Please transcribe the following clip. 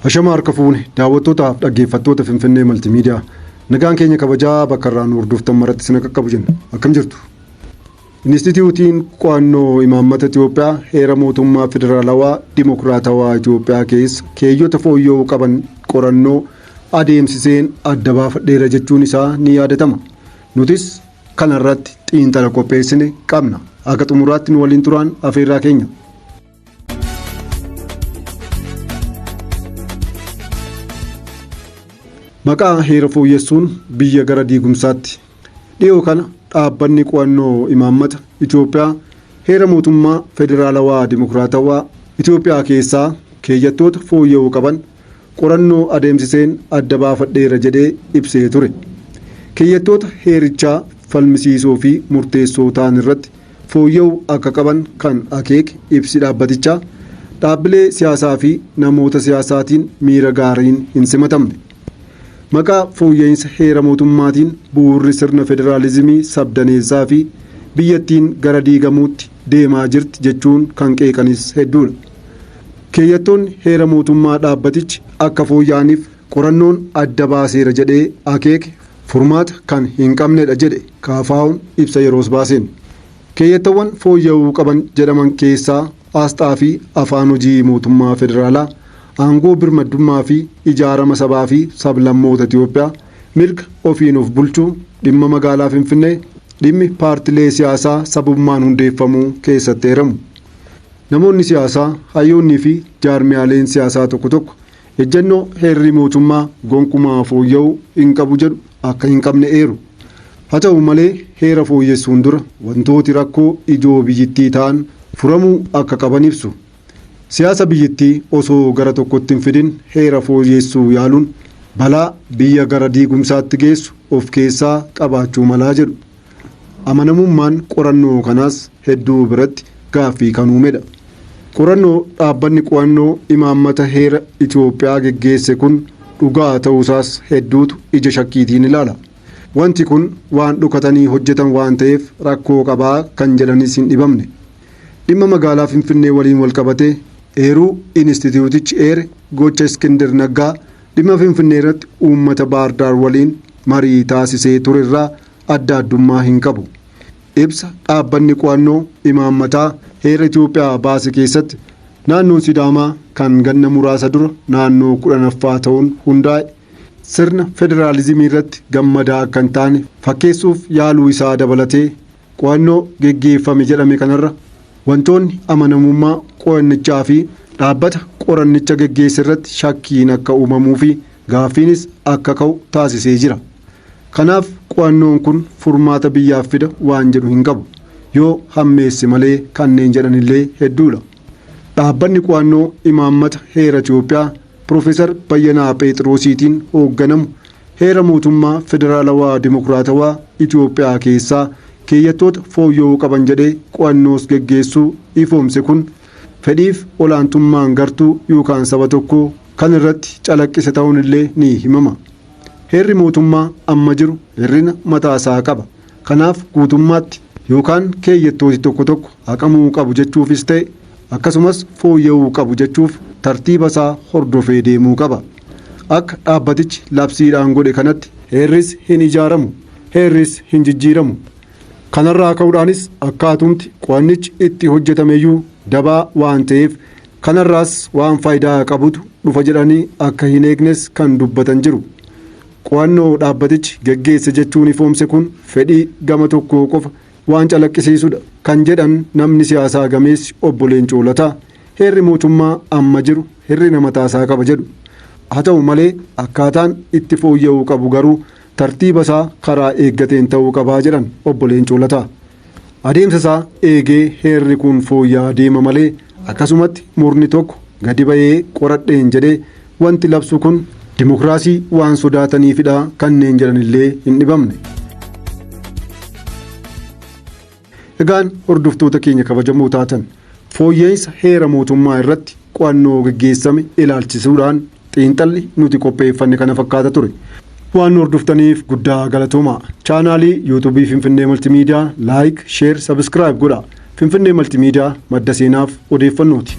Hashama harka fuune daawwattootaaf dhaggeeffattoota Finfinnee Maltiimiidiyaa nagaan keenya kabajaa bakka irraa nu hordoftan maratti sina qaqqabu jenna akkam jirtu. Inistitiyuutiin Qo'annoo Imaammata Itiyoophiyaa Heera Mootummaa Federaalawaa Dimokiraatawaa Itiyoophiyaa keessa keeyyota fooyya'uu qaban qorannoo adeemsiseen adda baafadheera jechuun isaa ni yaadatama. Nutis kanarratti xiinxala qopheessine qabna. Akka xumuraatti nu waliin turaan afeerraa keenya. Maqaa heera fooyyessuun biyya gara diigumsaatti dhiyoo kana dhaabbanni qo'annoo imaammata Itoophiyaa heera mootummaa federaalawaa dimokiraatawaa Itoophiyaa keessaa keeyyattoota fooyya'uu qaban qorannoo adeemsiseen adda baafadheera jedhee ibsee ture. Keeyyattoota heerichaa falmisiisoo fi murteessoo ta'an irratti fooyya'u akka qaban kan akeeke ibsi dhaabbatichaa, dhaabbilee siyaasaa fi namoota siyaasaatiin miira gaariin hin simatamne. Maqaa fooyya'insa heera mootummaatiin bu'uurri sirna federaalizimii sabdaneessaa fi biyyattiin gara diigamuutti deemaa jirti jechuun kan qeeqanis hedduudha. Keeyyattoonni heera mootummaa dhaabbatichi akka fooyya'aniif qorannoon adda baaseera jedhee akeeke furmaata kan hin qabnedha jedhe KFOn ibsa yeroos baaseen. Keeyyattawwan fooyya'uu qaban jedhaman keessaa Aasxaa fi Afaan hojii mootummaa federaalaa, aangoo birmaddummaa fi ijaarama sabaa fi sablammoota Itiyoophiyaa, mirga ofiin of bulchuu, dhimma magaalaa Finfinnee, dhimmi paartilee siyaasaa sabummaan hundeeffamuu keessatti eeramu. Namoonni siyaasaa, hayyoonnii fi jaarmiyaaleen siyaasaa tokko tokko Ejjennoo heerri mootummaa gonkumaa fooyya'uu hin qabu jedhu akka hin qabne eeru. Haa ta'u malee heera fooyyessuun dura wantooti rakkoo ijoo biyyittii ta'an furamuu akka qaban ibsu. Siyaasa biyyittii osoo gara tokkotti hin fidin heera fooyyeessuu yaaluun balaa biyya gara diigumsaatti geessu of keessaa qabaachuu malaa jedhu. Amanamummaan qorannoo kanaas hedduu biratti gaaffii kan uumedha. Qorannoo dhaabbanni qo'annoo imaammata heera Itoophiyaa geggeesse kun dhugaa ta'uusaas hedduutu ija shakkiitiin ilaala. Wanti kun waan dhokatanii hojjetan waan ta'eef rakkoo qaba kan jedhanis hin dhibamne. Dhimma magaalaa Finfinnee waliin walqabatee eeruu Inistitiyuutichi eere gocha Iskindir Naggaa dhimma Finfinneerratti uummata Baardaar waliin marii taasisee turerraa adda addummaa hin qabu. Ibsa dhaabbanni qo'annoo imaammataa heera Itoophiyaa baase keessatti naannoon Sidaamaa kan ganna muraasa dura naannoo 10ffaa ta'uun hundaa'e sirna federaalizimii irratti gammadaa akka hin taane fakkeessuuf yaaluu isaa dabalatee qo'annoo geggeeffame jedhame kanarra wantoonni amanamummaa qo'annichaa fi dhaabbata qorannicha geggeesse irratti shakkiin akka uumamuu fi gaaffiinis akka ka'u taasisee jira. Kanaaf qo'annoon kun furmaata biyyaaf fida waan jedhu hin qabu. Yoo hammeesse malee kanneen jedhan illee hedduudha. Dhaabbanni qo'annoo imaammata heera Itoophiyaa Piroofeesar Bayyanaa Pheexiroosiitiin hoogganamu heera mootummaa federaalawaa dimokiraatawaa Itoophiyaa keessaa keeyyattoota fooyya'uu qaban jedhee qo'annoos geggeessuu ifoomse kun fedhiif olaantummaan gartuu yookaan saba tokkoo kan irratti calaqqise ta'uun illee ni himama. Heerri mootummaa amma jiru hir'ina mataa isaa qaba. Kanaaf guutummaatti yookaan keeyyattooti tokko tokko haqamuu qabu jechuufis ta'e akkasumas fooyya'uu qabu jechuuf tartiiba isaa hordofee deemuu qaba. Akka dhaabbatichi labsiidhaan godhe kanatti. Heerris hin ijaaramu, heerris hin jijjiiramu. Kanarraa ka'uudhaanis akkaatumti qo'annichi itti hojjetameyyuu dabaa waan ta'eef Kanarraas waan faayidaa qabutu dhufa jedhanii akka hin eegnes kan dubbatan jiru. Qo'annoo dhaabbatichi geggeesse jechuun ifoomse kun fedhii gama tokkoo qofa waan calaqqisiisudha kan jedhan namni siyaasaa gameessi Obbo Leencoo Lataa, heerri mootummaa amma jiru hir'ina mataasaa qaba jedhu. Haa ta'u malee akkaataan itti fooyya'uu qabu garuu Tartiiba isaa karaa eeggateen ta'uu qaba jedhan Obbo Leencoo Lataa. Adeemsa isaa eegee heerri kun fooyya'aa deema malee akkasumatti murni tokko gadi ba'ee qoradheen jedhee wanti labsu kun dimokiraasii waan sodaataniifidha kanneen jedhanillee hin dhibamne. Egaan hordoftoota keenya kabajamoo taatan fooyya'insa heera mootummaa irratti qo'annoo geggeessame ilaalchisuudhaan xiinxalli nuti qopheeffanne kana fakkaata ture. Waan hordoftaniif guddaa galatoomaa. Chaanaalii yuutuubii Finfinnee Maltimiidiyaa laayik, sheer, sabiskiraayib godhaa. Finfinnee Maltimiidiyaa madda seenaaf odeeffannooti.